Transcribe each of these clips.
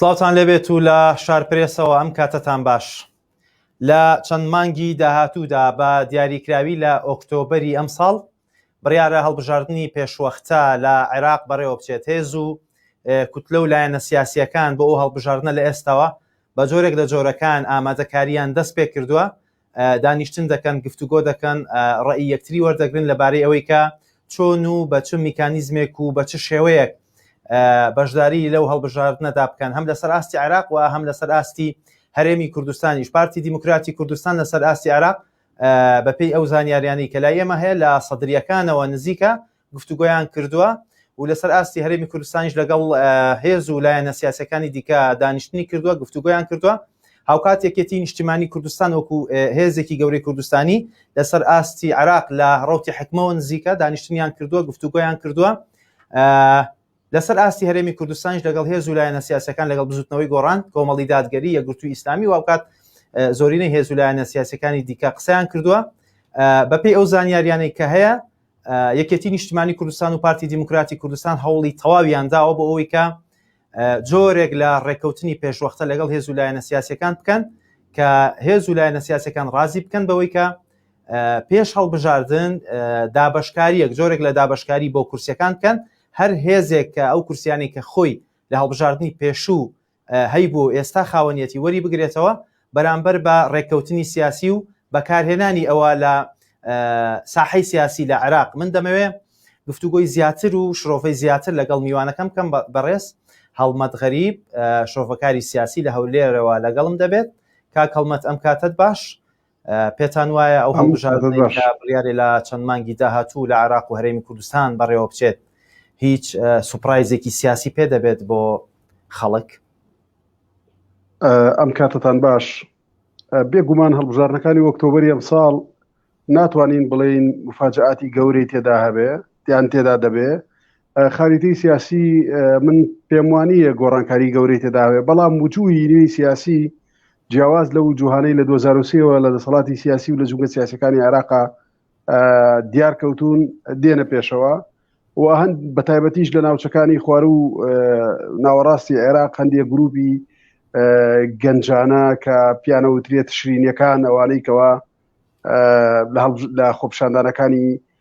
سڵاوان لەبێت و لە شارپرێسەوە ئەم کاتەتان باش لە چەند مانگی داهاتوودا بە دیاریکراوی لە ئۆکتۆبری ئەم ساڵ بڕیارە هەڵبژاردنی پێشوەختە لە عێراق بەڕێوەبچێت، هێز و کوتلە و لایەنە سیاسییەکان بۆ ئەو هەڵبژاردنە لە ئێستاوە بە جۆرێک لە جۆرەکان ئامادەکارییان دەستپێکردووە، دانیشتن دەکەن، گفتوگۆ دەکەن، ڕەئی یەکتری وەردەگرن لەبارەی ئەوەی کە چۆن و بە چ میکانیزمێک و بە چ شێوەیەک بەشداری لەو هەڵبژاردنەدا بکەن هەم لەسەر ئاستی عێراق و هەم لەسەر ئاستی هەرێمی کوردستانیش پارتی دیموکراتی کوردستان لەسەر ئاستی عێراق بەپێی ئەو زانیاریانەی کە لای ئێمە هەیە لە سەدرییەکانەوە نزیکە گفتوگۆیان کردووە و لەسەر ئاستی هەرێمی کوردستانیش لەگەڵ هێز و لایەنە سیاسەکانی دیکە دانیشتنی کردووە گفتوگۆیان کردووە هاوکات یەکێتی نیشتیمانی کوردستان وەکو هێزێکی گەورەی کوردستانی لەسەر ئاستی عراق لە ڕوتی حکمەوە نزیکە دانیشتنیان کردووە گفتوگۆیان کردووە لەسەر ئاستی هەرێمی کوردستانیش لەگەڵ هێز و لایەنە سیاسیەکان لەگەڵ بزوتنەوەی گۆڕان، کۆمەڵی دادگەری، یەکگرتوی ئیسلامی و هاوکات زۆرینەی هێز و لایەنە سیاسیەکانی دیکە قسەیان کردوە. بەپێی ئەو زانیاریانەی کە هەیە یەکێتی نیشتمانی کوردستان و پارتی دیموکراتی کوردستان هەوڵی تەواویان داوە بۆ ئەوەی کە جۆرێک لە ڕێککەوتنی پێشوەختە لەگەڵ هێز و لایەنە سیاسەکان بکەن کە هێز و لایەنە سیاسەکان ڕازی بکەن بەوەی کە پێش هەڵبژاردن دابشکاریەک جۆرێک لە دابشکاری بۆ کورسەکان بکەن هەر هێزێک کە ئەو کورسیانەی کە خۆی لە هەڵبژاردنی پێشوو هەیبوو و ئێستا خاوەنیەتی وەریبگرێتەوە بەرامبەر بە ڕێککەوتنی سیاسی و بەکارهێنانی ئەوە لە ساحەی سیاسی لە عێراق من دەمەوێ گفتوگۆی زیاتر و شرۆڤەی زیاتر لەگەڵ میوانەکەم کەم بەڕێز هەڵمەت غەریب شرۆڤەکاری سیاسی لە هەولێرەوە لەگەڵم دەبێت کاک هەڵمەت ئەم کاتت باش پێتان وایە ئەو هەڵبژاردنیارێ لە چەند مانگی داهاتوو لە عراق و هەرێمی کوردستان بەڕێوە بچێت هیچ سوپرایزێکی سیاسی پێ دەبێت بۆ خەڵک ئەم کاتتان باش بێگومان هەڵبژارنەکانی ئۆکتۆبری ئەم ساڵ ناتوانین بڵێین مفاجعاتی گەورەی تێدا هەبێ دیان تێدا دەبێ خاریتەی سیاسی من پێموانیە گۆڕانکاری گەورەی تێداوێ بەڵام وجووی نوێی سیاسی جیاواز لە وجوهانەی لە 2023ەوە لە دەسەڵاتی سیاسی و لە جوگە سیاسەکانی عراقا دیار کەوتون دێنە پێشەوە و هەند بە تایبەتیش لە ناوچەکانی خوار و ناوەڕاستی عێراق هەندێک گروپی گەنجانە کە پیانەوترێت شرینەکان ئەوانەی کەەوە لە خۆپشاندانەکانی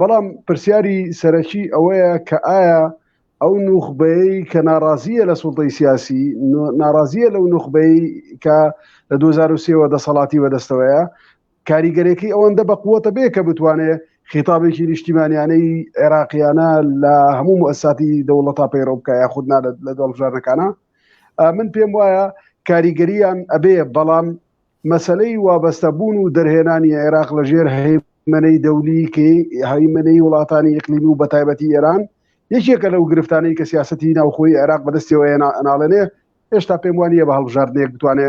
بەڵام پرسیاری سەرەکی ئەوەیە کە ئایا ئەو نوخبەیەی کە ناڕازیە لە سوڵتەی سیاسی ناڕازیە لەو نوخبەی کە لە 2023ەوە دەسەڵاتی بەدەستەوەیە کاریگەرێکی ئەوەندە بە قووەتە بێ کە بتوانێ خیتابێکی نیشتیمانیانەی عێراقیانە لە هەموو مؤسساتی دەوڵەتا پەیڕەو بکە یا خودنا لە دەڵبژارەکانە من پێم وایە کاریگەریان ئەبێ بەڵام مەسەلەی وابەستە بوون و دەرهێنانی عێراق لە ژێر هەیمەنەی دەولی کە هەیمەنەی وڵاتانی ئیقلیمی و بەتایبەتی ئێران یەکێکە لەو گرفتانەی کە سیاسەتی ناوخۆی عێراق بەدەستیەوە ئەناڵێنێ هێشتا پێم وانە بە هەڵبژاردنێک بتوانێ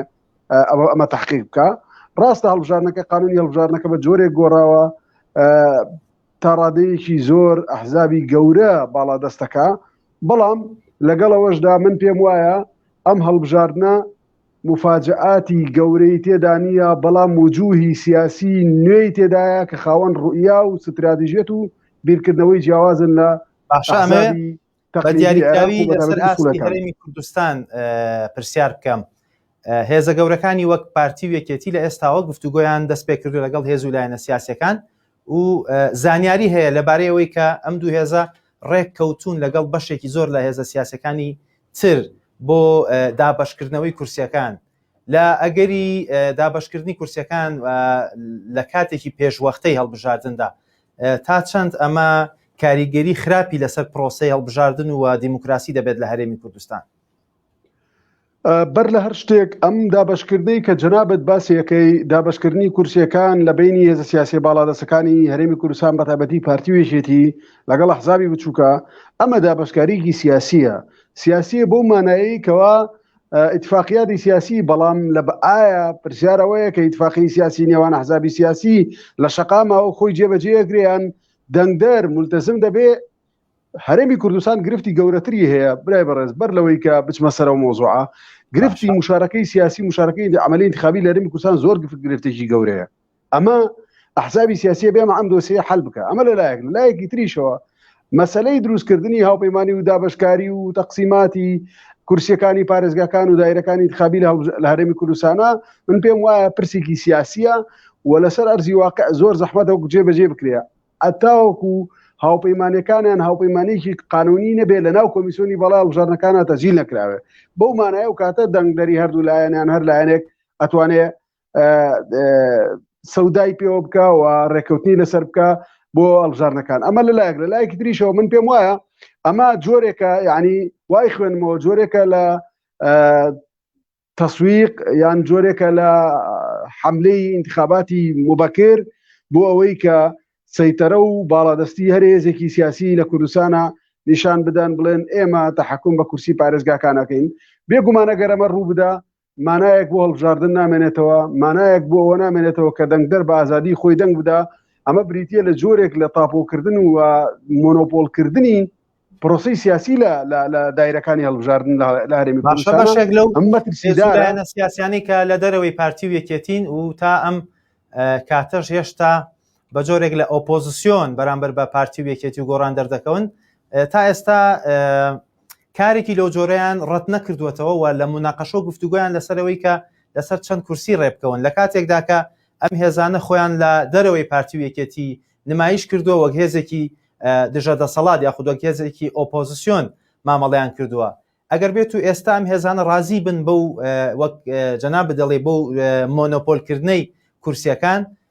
ئەوە ئەمە تحقیق بکە ڕاستە هەڵبژارنەکە قانونی هەڵبژارنەکە بە جۆرێک گۆڕاوە تا ڕادەیەکی زۆر ئەحزابی گەورە باڵا دەستەکە بەڵام لەگەڵەوەشدا من پێم وایە ئەم هەڵبژاردنە موفاجەئاتی گەورەی تێدا نییە، بەڵام وجووهی سیاسی نوێی تێدایە کە خاوەن ڕوئیا و ستراتژیەت و بیرکردنەوەی جیاوازن لە ئەحزابی تەقلیدی عێراق و بەتایبەتی ئوسوڵەکان. کوردستان پرسیار بکەم، هێزە گەورەکانی وەک پارتی و یەکێتی لە ئێستاوە گفتوگۆیان دەست پێ کردووە لەگەڵ هێز و لایەنە سیاسیەکان و زانیاری هەیە لەبارەی ئەوەی کە ئەم دوو هێزە ڕێک کەوتوون لەگەڵ بەشێکی زۆر لە هێزە سیاسەکانی تر بۆ دابەشکردنەوەی کورسیەکان لە ئەگەری دابەشکردنی کورسیەکان لە کاتێکی پێشوەختەی هەڵبژاردندا تا چەند ئەمە کاریگەری خراپی لەسەر پرۆسی هەڵبژاردن و دیموکراسی دەبێت لە هەرێمی کوردستان بەر لە هەر شتێک ئەم دابشکردنەی کە جەنابەت باسیەکەی دابشکردنی کورسیەکان لە بینی هێزە سیاسی باڵادەسەکانی هەرێمی کوردستان بەتابەتی پارتی وێژێتی لەگەڵ ئەحزابی بچووکە ئەمە دابەشکاریکی سیاسیە سیاسیە بۆ مانایی کەوا ئیتفاقیاتی سیاسی بەڵام لە ئایا پرسیارەوەیە کە ئیتفاقی سیاسی نێوان حزابی سیاسی لە شقامەوە خۆی جێبەجێگریان دەنگدەر ملتەزم دەبێ هەرێمی کوردستان گرفتی گەورەتری هەیە برای بەڕێز بەر لەوەی کە بچمە سەرەوە مۆزوعە گرفتی مشارەکەی سیاسی مشارەکەی عملی انتخابی لە هەرێمی کوردستان زۆر گرفتێکی گەورەیە ئەمە ئەحزابی سیاسیە بێمە ئەم دۆسیە حل بکە ئەمە لە لایەک لایەکی تریشەوە مەسلەی دروستکردنی هاوپەیمانانی و دابشکاری و تەقسیماتی کورسیەکانی پارێزگاکان و دایرەکانی خابی لە هەرێمی کوردستانە من پێم وایە پرسێکی سیاسیە و لەسەر ئەرزی واقع زۆر زەحمەتە و گوجێ بەجێ بکرێ ئەتاوەکو هاوپەیمانەکانیان هاوپەیمانێکی قانونی نەبێت لە ناو کۆمیسیۆنی بەڵای هەڵبژارنەکانە تەزیل نەکراوێت بەو مانایە و کاتە دەنگدەری هەردوو لایەنیان هەر لایەنێک ئەتوانێت سەودای پێوە بکە و ڕێککەوتنی لەسەر بکە بۆ ئەلژارنەکان ئەمە لە لایەک لە لایەکی دریشەوە من پێم وایە ئەمە جۆرێکە یعنی وای خوێنمەوە جۆرێکە لە تەسویق یان جۆرێکە لە حملەی انتخاباتی مبەکر بۆ ئەوەی کە سەیتەرە و باڵادەستی هەرێزێکی سیاسی لە کوردستانە نیشان بدەن بڵێن ئێمە تەحکم بە کورسی پارێزگاکانەکەین بێگومانەگەرەمە ڕوو بدا مانایەک بۆ هەڵبژاردن نامێنێتەوە، مانایەک بۆ ئەوە نامێنێتەوە کە دەنگدەر بە ئازادی خۆی دەنگ بدا، ئەمە بریتیە لە جۆرێک لە تاپۆکردن و مۆنۆپۆلکردنی پرۆسی سیاسی لە لە دایرەکانی هەڵبژاردن لە هەرێمی باشێک لەو ئەمەترسیدانە سیاسیانی کە لە دەرەوەی پارتی و یەکێتین و تا ئەم کاتەش هێشتا بە جۆرێک لە ئۆپۆزیسیۆن بەرامبەر بە پارتی و یەکێتی و گۆڕان دەردەکەون تا ئێستا کارێکی لەو جۆرەیان ڕەت نەکردوێتەوە و لە مناقەشە و گفتوگویان لەسەرەوەی کە لەسەر چەند کورسی ڕێبکەون لە کاتێکدا کە ئەم هێزانە خۆیان لە دەرەوەی پارتی و یەکێتی نمایش کردووە وەک هێزێکی دژە دەسەڵات یاخود وەک هێزێکی ئۆپۆزیسیۆن مامەڵیان کردووە ئەگەر بێت و ئێستا ئەم هێزانە ڕازی بن بەو وەک جەنا بدەڵێ بۆ مۆنۆپۆلکردنەی کورسیەکان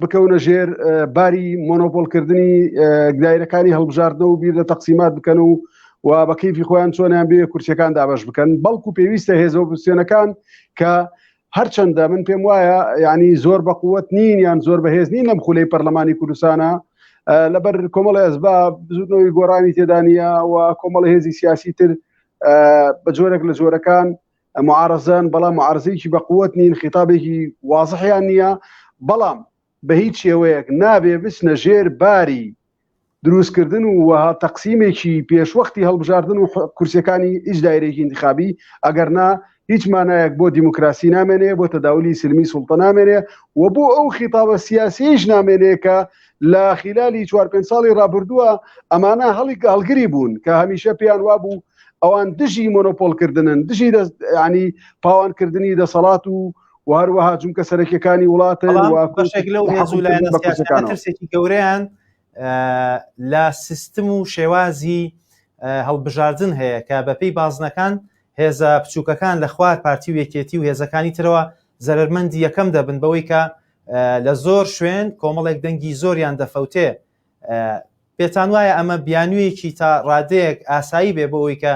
بکەونە ژێر باری مۆنۆپۆلکردنی گدایرەکانی هەڵبژاردنەوە و بیر لە تەقسیمات بکەن و و بە کەیفی خۆیان چۆنیان بێ کورسیەکان دابش بکەن بەڵکو پێویستە هێزە ئۆپسیۆنەکان کە هەرچەندە من پێم وایە ینی زۆر بە قوت نین یان زۆر بەهێز نین لەم خولەی پەرلەمانی کوردستانە لەبەر کۆمەڵی ئەزبا بزودنەوەی گۆڕانی تێدانە و کۆمەڵ هێزی سیاسی تر بە جۆرێک لە جۆرەکان معارەزەن بەڵام معارەزەیەکی بە قوت نین خیتابێکی وازحیان نییە بەڵام بە هیچ شێوەیەک نابێ بچنە ژێر باری دروستکردن و وەها تەقسیمێکی پێشوەختی هەڵبژاردن و کورسەکانی هیچ دایرێکی انتخابی ئەگەر نا هیچ مانایەک بۆ دیموکراسی نامێنێ بۆ تەداولی سلمی سوڵتە نامێنێ و بۆ ئەو خیتابە سیاسیش نامێنێ کە لە خلالی چوار پێ ساڵی رابردووە ئەمانە هەڵی هەڵگری بوون کە هەمیشە پێیان وابوو ئەوان دژی مۆنۆپۆلکردنن دژی ینی پاوانکردنی دەسەڵات و و هەروەها جونکە سەرەکیەکانی وڵاتە بەشێک لەو هێزولایەنەکەسێکی گەوریان لە سیستم و شێوازی هەڵبژاردن هەیە کە بەپی بازنەکان هێزە بچووکەکان لە خوار پارتی و یەکێتی و هێزەکانی ترەوە زەرمەندی یەکەم دەبن بەوەی کە لە زۆر شوێن کۆمەڵێک دەنگی زۆریان دەفەوتێ پێتان وایە ئەمە بیانویەکی تا ڕادەیەک ئاسایی بێ بۆ ئەوی کە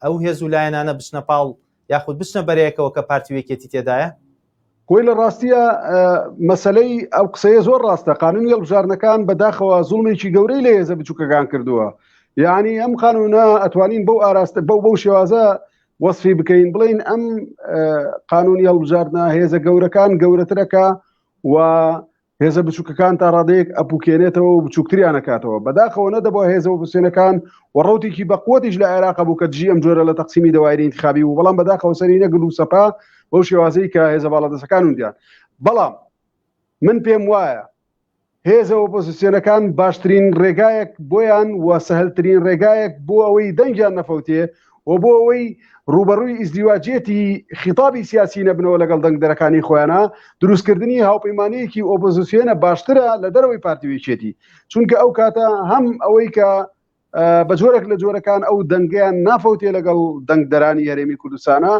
ئەو هێز و لایەنانە بچنە پاڵ یاخود بچنە بەرەیەکەوە کە پارتیوێکێتی تێدایە کۆی لە ڕاستیە مەسلەی ئەو قسەیە زۆر ڕاستە قانون هێڵبژارنەکان بەداخەوە زوڵمێکی گەورەی لە هێزە بچووکەکان کردووە یعنی ئەم قانونە ئەتوانین بەو ئاراستە بەو بەو شێوازە وەصفی بکەین بڵین ئەم قانونی هەڵبژاردنە هێزە گەورەکان گەورەترەکە و هێزە بچووکەکان تا ڕادەیەک ئەپوکێنێتەوە و بچووکتریان نەکاتەوە بەداخەوە نەدەبووە هێزە وپسێنەکان و ڕوتێکی بەقوەتیش لە عێراق بوو کە دژی ئەم جۆرە لە تەقسیمی دەوایری انتخابی بوو بەڵام بەداخەوە سەری نەگرت و سەپا بەو شێوازەی کە هێزە باڵادەسەکان وندیان بەڵام من پێم وایە هێزە ئۆپۆزیسیۆنەکان باشترین ڕێگایەک بۆیان و سەهلترین ڕێگایەک بۆ ئەوەی دەنگیان نەفەوتێ و بۆ ئەوەی ڕووبەڕووی ئیزدیواجیەتی خیتابی سیاسی نەبنەوە لەگەڵ دەنگدەرەکانی خۆیانا، دروستکردنی هاوپەیمانییەکی ئۆپۆزیسیۆنە باشترە لە دەرەوەی پارتی و یەکێتی، چونکە ئەو کاتە هەم ئەوەی کە بە جۆرێک لە جۆرەکان ئەو دەنگیان نافەوتێ لەگەڵ دەنگدەرانی هەرێمی کوردستانە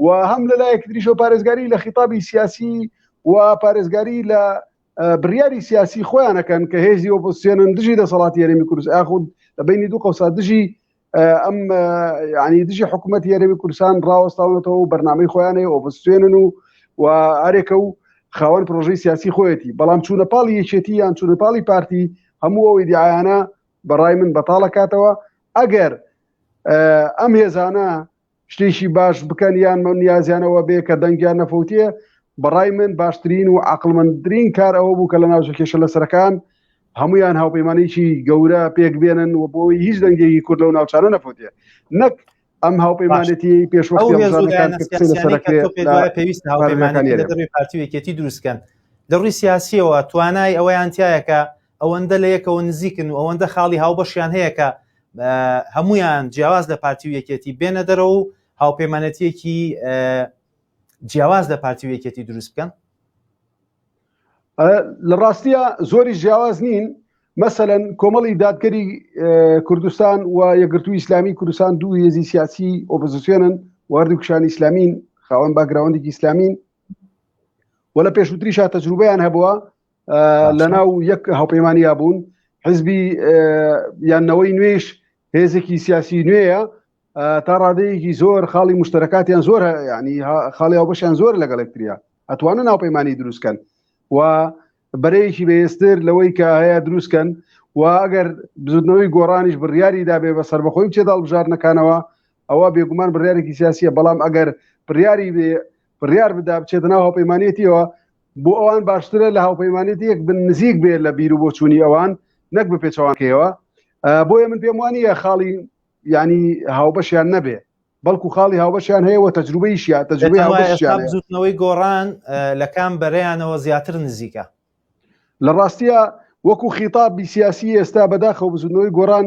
و هەم لە لایەکی تریشەوە پارێزگاری لە خیتابی سیاسی و پارێزگاری لە بریاری سیاسی خۆیانەکەن کە هێزی ئۆپۆسیۆنن دژی دەسەڵاتی هەرێمی کوردستان یاخود لە بینی دوو قەوسا دژی ئەم ینی دژی حکوومەت یارەوی کوردستان ڕاوەستاونەتەوە و بەرنمەی خۆیانەیە ئۆپستێنن و و هەرێکە و خاوەن پرۆژەی سیاسی خۆیەتی بەڵام چوونە پاڵی یەکێتی یان چوونە پاڵی پارتی هەموو ئەوەی دیعاانە بەڕای من بەتاڵەکاتەوە ئەگەر ئەم هێزانە شتێکی باش بکەن یان من نیازیانەوە بێ کە دەنگیان نەفوتیە بەڕای من باشترین و عقلمەندرین کار ئەوە بوو کە لە ناوچە کێشە لە سەرەکان هەمویان هاوپەیمانێکی گەورە پێک بێنن و بۆی هیچ دەنگێکی کورد لەو ناوچانە نەفوتێ نەک ئەم هاوپەیمانێتی پێشوەستیپێویست هاوپەیمانەکانی پارتیوێکێتی دروستکەن لە ڕووی سیاسیەوە توانای ئەوەیان تایەکە ئەوەندە لە یەکەوە نزیکن و ئەوەندە خاڵی هاوبەشیان هەیە کە هەمویان جیاواز لە پارتی و یەکێتی بێنە دەرەوە و هاوپەیمانەتیەکی جیاواز لە پارتی و یەکێتی دروست بکەن لە ڕاستیە زۆری جیاواز نین مەسەەن کۆمەڵی دادگەری کوردستان و یەگرتوو ئیسلامی کوردستان دوو هێزی سیاسی ئۆپزیسیۆنن واردی کوشانی ئیسلامین خاوەن باگراوەندێکی ئیسلامین و لە پێشوتریشا تەجروبیان هەبووە لەناو یەک هاوپەیمانیا بوون حزبی یانەوەی نوێش هێزێکی سیاسی نوێیە تا ڕادەیەکی زۆر خاڵی مشتەکاتیان زۆر ینی خاڵی ئەو بەشیان زۆر لەگەڵێکتریا ئەتوانە ناوپەیمانانی دروستکەن و بەرەیەکی بەێستر لەوەی کە هەیە دروستکەن و ئەگەر بزودنەوەی گۆڕانیش بڕیاری دابێ بە سربەخۆی چێ داڵبژارنەکانەوە ئەوە بێگومان بڕارێکی سیاسیە بەڵام ئەگەر بڕیاری بێ بڕیار بدا بچێتە ناو هاوپەیمانێتیەوە بۆ ئەوان باشترە لە هاوپەیمانێتی یەک بن نزیک بێ لە بیر و بۆچوونی ئەوان نەک بە پێچەوانکەیەوە بۆیە من پێم وانە خاڵی ینی هاوبەشیان نەبێ بەڵکو خاڵی هاوبەشیان هەیە وە تەجروبەیشیان تەجروبەی هاوبەشیان بزوتنەوەی گۆڕان لە کام بەرەیانەوە زیاتر نزیکە لە ڕاستیا وەکو خیتابی سیاسی ئێستا بەداخەوە بزوتنەوەی گۆڕان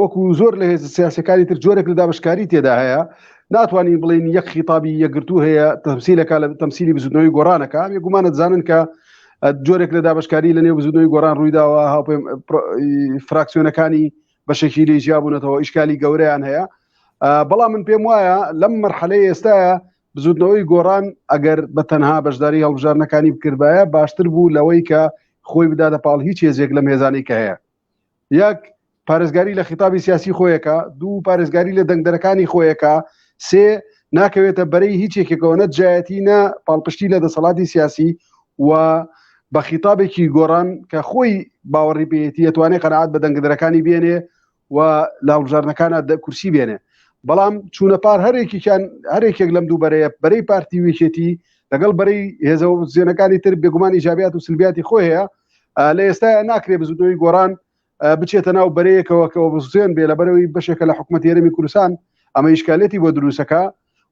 وەکو زۆر لە هێز سیاسەکانی تر جۆرێک لە دابشکاری تێدا هەیە ناتوانین بڵین یەک خیتابی یەکگرتو هەیە تەمسیلەکە لە تەمسیلی بزودنەوەی گۆڕانەکە ئەم گومانە دەزانن کە جۆرێک لە دابشکاری لە نێو بزودنەوەی گۆران ڕوویداوە هاوپێ فراکسیۆنەکانی بەشێکی لێ جیابوونەتەوە ئیشکالی گەورەیان هەیە بەڵام من پێم وایە لەم مەرحەلەی ئێستاە بزوتنەوەی گۆڕان ئەگەر بە تەنها بەشداری هەڵبژاردنەکانی بکردبایە باشتر بوو لەوەی کە خۆی بداتە پاڵ هیچ هێزێک لەم هێزانەی کە هەیە یەک پارێزگاری لە خیتابی سیاسی خۆیەکە دوو پارێزگاری لە دەنگدەرەکانی خۆیەکە سێ ناکەوێتە بەرەی هیچ یەکێکەوە نە دژایەتی نە پاڵپشتی لە دەسەڵاتی سیاسی و بە خیتابێکی گۆڕان کە خۆی باوەڕی پێیەتی ئەتوانێت قەنەعات بە دەنگدەرەکانی بێنێ و لاڵبژاردنەکانە دە کورسی بێنێ بەڵام چوونە پار هەرێکیان هەرێکێک لەم دوو بەرەیە بەرەی پارتی وێکێتی لەگەڵ بەرەی هێزە زیێنەکانی تر بێگومانی جابات و سلبیاتی خۆ هەیە لە ئێستا ناکرێ بزودەوەی گۆران بچێتە ناو بەرەیەکەوە کەەوە بزێن بێ لە بەرەوەی بەشێکە لە حکوومەت یێرەمی کوردستان ئەمە ئیشکالەتی بۆ دروستەکە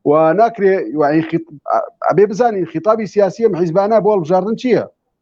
و ناکرێ ئەبێ بزانین خیتابی سیاسی ئەم حیزبانە بۆ هەڵبژاردن چییە؟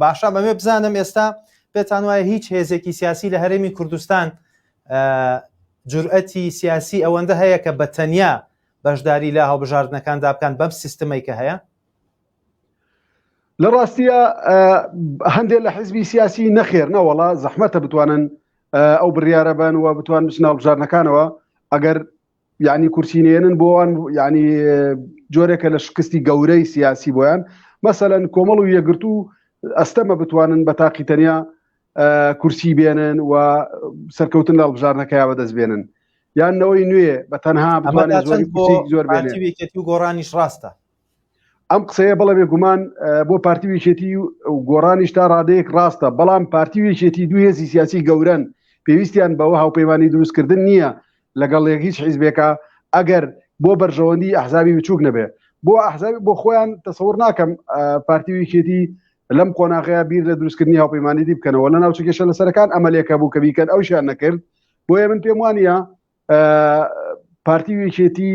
باشە بەمێ بزانم ئێستا پێتان وایە هیچ هێزێکی سیاسی لە هەرێمی کوردستان جورئەتی سیاسی ئەوەندە هەیە کە بە تەنیا بەشداری لە هەڵبژاردنەکاندا بکەن بەم سیستمەی کە هەیە لە ڕاستیە هەندێک لە حزبی سیاسی نەخێر نەوەڵا زەحمەتە بتوانن ئەو بڕیاە بن و بتوان بچناو بژارنەکانەوە ئەگەر یعنی کورسی نێنن بۆوان یعنی جۆرێکە لە شکستی گەورەی سیاسی بۆیان مەسەەن کۆمەڵ و یەگرت و ئەستەمە بتوانن بە تاقی تەنیا کورسی بێنن و سەرکەوتن لە هەڵبژارنەکەیا بەدەست بێنن یانەوەی نوێ بە تەنها زۆر گۆڕانیش ڕاستە ئەم قسەیە بەڵێ بێگومان بۆ پارتی ویچێتی و گۆڕانیش تا ڕادەیەک ڕاستە بەڵام پارتی ویچێتی دوو هێزی سیاسی گەورەن پێویستیان بەوە هاوپەیمانانی دروستکردن نییە لەگەڵ لێک هیچ حیزبێکە ئەگەر بۆ بەرژەوەندی ئەحزابی بچووک نەبێ بۆ ئەحزابی بۆ خۆیان تەسەور ناکەم پارتی ویچێتی لەم قۆناغەیە بیر لە دروستکردنی هاوپەیمانانی دی بکەنەوە لە ناوچە کێشە لەسەرەکان ئەمەلێکە بوو کە بیکەن ئەوشیان نەکرد بۆیە من پێم وانە پارتی وێکێتی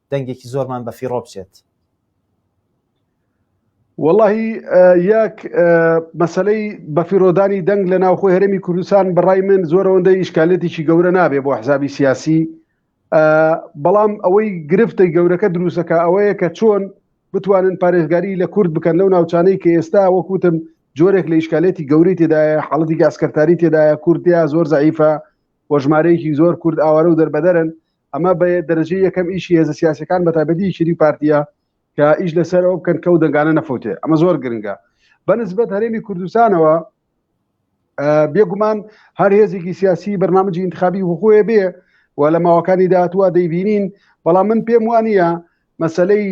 دەنگێکی زۆرمان بە فیڕۆ بچێت وەڵی یەک مەسلەی بەفیرۆدانی دەنگ لە ناوخۆی هەرمی کوردستان بەڕای من زۆرەوەندە ئیشکالێتیی گەورە نابێ بۆ حزابی سیاسی بەڵام ئەوەی گرفتە گەورەکە دروستەکە ئەوەیە کە چۆن بتوانن پارێزگاری لە کورد بکەن لەو ناوچانەی کە ئێستا وەکوتم جۆرێک لە ئیشکالێتی گەوری تێدایە حاڵەتی گاسکەتاری تێدایە کوردیا زۆر زعیفە وەژمارەیەکی زۆر کورد ئاوارە و دەربەدەرن ئەمە بە دەرەجەی یەکەم ئیشی هێزە سیاسەکان بە تایبەتی یەکێتی پارتیە کە ئیش لەسەر ئەو بکەن کەو دەنگانە نەفوتێ ئەمە زۆر گرنگە بەنسبەت هەرێمی کوردستانەوە بێگومان هەر هێزێکی سیاسی بەرنامەجی انتخابی وخۆێ بێ و لە ماوەکانی داهاتوە دەیبینین بەڵام من پێم وانە مەسلەی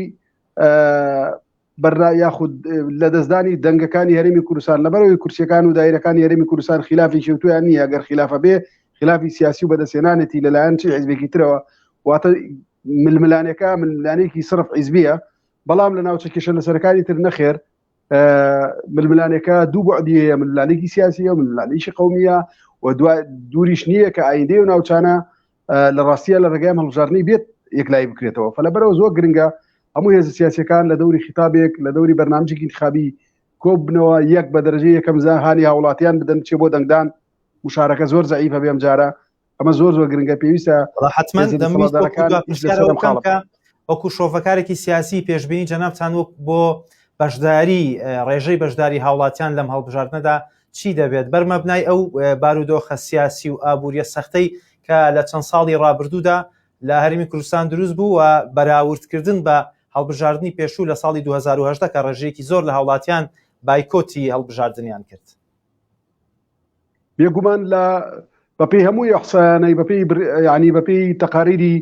بەرنا یاخود لەدەستدانی دەنگەکانی هەرمی کوردستان لەبەرەوەی کورسیەکان و دایرەکانی هەرمی کوردستان خلافی شێوتویان نییە گەر خلافە بێ خلافی سیاسی و بەدەستێنانێتی لەلایەن چی حزبێکی ترەوە واتە ململانەکە ململانێکی سرف حیزبیە بەڵام لە ناوچە کێشە لەسەرەکانی تر نەخێر ململانەکە دوو بەعدی هەیە ململانێکی سیاسیە ململانێکی قومیە و دوای دووریش نییە کە ئایندەی و ناوچانە لە ڕاستیە لە ڕێگای ئەم هەڵبژاردنەی بێت یەکلایی بکرێتەوە فە لەبەرەوە زۆر گرنگە هەموو هێز سیاسەکان لە دەوری خیتابێک لە دەوری بەرنامجێکی انتخابی کۆب بنەوە یەک بە دەرەجە یەکەم زانهانی هاوڵاتیان بدەن چێ بۆ دەنگدان مشارەکە زۆر زعیفە بێم جارە ئەمە زۆر زۆر گرنگە پێویستە حتمما وەکو شۆفەکارێکی سیاسی پێشببینی جەنابتان وەک بۆ بەشداری ڕێژەی بەشداری هاوڵاتیان لەم هەڵبژاردنەدا چی دەبێت بەر مەبنای ئەو بارودۆخە سیاسی و ئابووریە سەختەی کە لە چەند ساڵی ڕابردوودا لە هەرمی کوردستان دروست بوو و بەراوردکردن بە هەڵبژاردننی پێشوو لە ساڵی 2010 کە ڕێژەیەکی زۆر لە هاوڵاتیان بایکۆتی هەڵبژاردنیان کرد. بێگومان لە بەپێی هەموو ئیحسایانەی بەپێی بر... یعنی بەپێی تەقاریری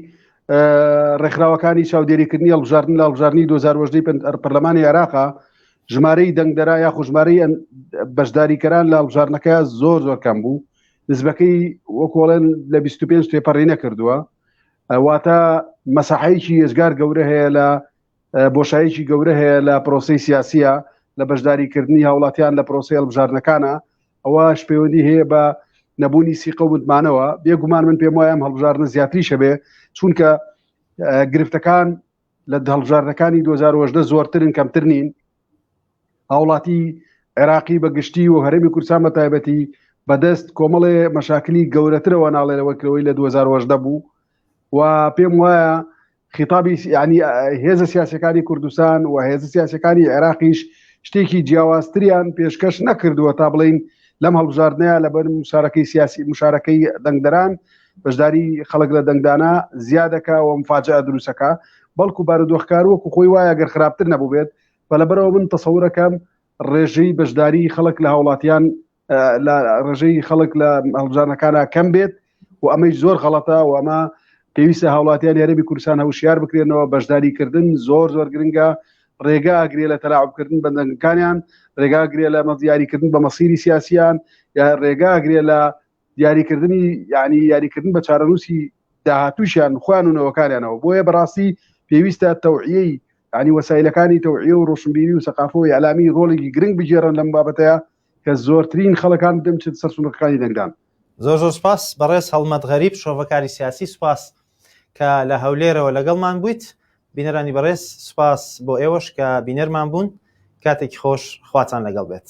ڕێکخراوەکانی چاودێریکردنی هەڵبژاردن لە هەڵبژاردنی 2010 پەرلەمانی عێراقا ژمارەی دەنگدەرا یا خوژمارەی بەشداریکەران لە هەڵبژاردنەکە زۆر زۆر کەم بوو نزبەکەی وەکۆڵێن لە 25 تێپەڕی نەکردووە واتە مەساحەیەکی ێزگار گەورە هەیە لە بۆشایەکی گەورە هەیە لە پرۆسەی سیاسیە لە بەشداری کردنی هاوڵاتیان لە پرۆسی هەڵبژاردنەکانە ئەوەش پەیوەندی هەیە بە نەبوونی سیقە و متمانەوە بێگومان من پێم وایەم هەڵبژاردنە زیاتری شەبێ چونکە گرفتەکان لە هەڵبژاردنەکانی 2010 زۆرترن کەمتر نین هاوڵاتی عێراقی بە گشتی و هەرمی کورسان بە تایبەتی بەدەست کۆمەڵێ مەشاکلی گەورەترەوە ناڵێنەوە کرەوەی لە 2010 بوو و پێم وایە خیتابی یعنی هێزە سیاسەکانی کوردستان و هێزە سیاسەکانی عێراقیش شتێکی جیاوازتریان پێشکەش نەکردووە تا بڵین لەم هەڵبژاردنەیە لە بەر مشارەکەی سیاسی مشارەکەی دەنگدەران بەشداری خەڵک لە دەنگدانە زیادەکە و مفاجە دروستەکە بەڵکو بارودۆخکار وەکو خۆی وایە گەر خراپتر نەبووبێت بە لەبەرەوە من تەسەورەکەم ڕێژەی بەشداری خەڵک لە هاوڵاتیان لە ڕژەی خەڵک لە هەڵبژارنەکانە کەم بێت و ئەمەی زۆر غەڵەتە و ئەمە پێویستە هاوڵاتیان یارەبی کورسان هەوشیار بکرێنەوە بەشداری کردن زۆر زۆر گرنگە ڕێگا گرێ لە تەلاعبکردن بەندەنگەکانیان ڕێگا گرێ لە مە دیاریکردن بە مەسیری سیاسیان یا ڕێگا گرێ لە دیاریکردنی یعنی یاریکردن بە چارەنووسی داهاتوشیان خوان و نەوەکانیانەوە بۆیە بەڕاستی پێویستە تەوعیەی ینی وەسایلەکانی تەوعی و ڕۆشنبیری و سەقافۆ یالامی ڕۆڵێکی گرنگ بگێڕن لەم بابەتەیە کە زۆرترین خەڵکان دەم چت سەر سونقەکانی دەنگدان. زۆر زۆر سپاس بەڕێز هەڵمەت غەریب شرۆڤەکاری سیاسی سپاس کە لە هەولێرەوە لەگەڵمان بوویت بینەرانی بەڕێز سپاس بۆ ئێوەش کە بینەرمان بوون کاتێکی خۆش خواتان لەگەڵ بێت.